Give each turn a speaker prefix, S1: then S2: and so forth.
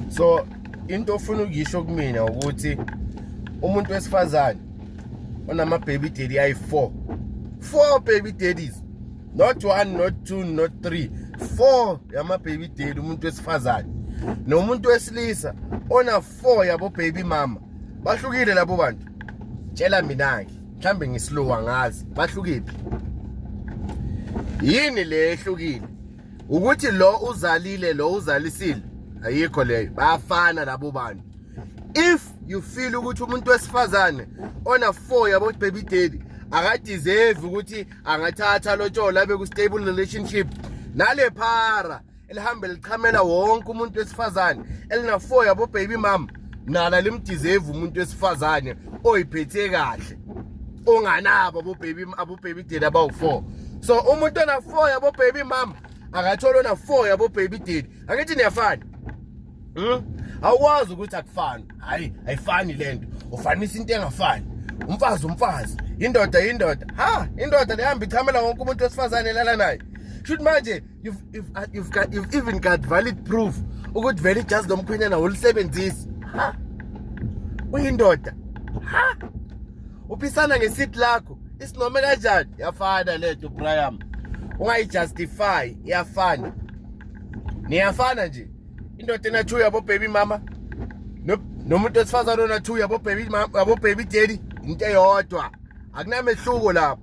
S1: so into ofuna ukuyisho kumina ukuthi umuntu wesifazane onama baby daddy ayi 4 4 baby daddies not one not two not three four yama baby daddy umuntu wesifazane nomuntu wesilisa ona four yabo baby mama bahlukile labo bantu tshela mina ke mhlambe ngislowa ngazi bahlukile yini le ehlukile ukuthi lo uzalile lo uzalisile ayikho leyo bayafana labo bantu if you feel ukuthi umuntu wesifazane ona 4 yabo baby daddy akadeserve ukuthi angathatha lotshola abe ku stable relationship nale phara elihambe lichamela wonke umuntu wesifazane elina 4 yabo baby mama nala limdizevu umuntu wesifazane oyiphethe kahle onganabo abobaby abobaby daddy abawu-four so umuntu ona-four yabobaby mama akathole ona-four yabobaby daddy angithi niyafana hmm? awukwazi ukuthi akufani hhayi ayifani le nto ufanisa into engafani umfazi umfazi indoda indoda ha indoda lehamba ichamela wonke umuntu wesifazane elala naye shuthi manje you've, you've, uh, you've, got, you've even got valid proof ukuthi vele ijazi lomkhwenyana wolisebenzisi ha uyindoda ha uphisana ngesiti lakho isinome kanjani yafana lento brian ungayijustify iyafana niyafana nje indoda enathu yabobhebi mama nomuntu wesifazane onathu yabobhebi daddy into eyodwa akunamehluko lapho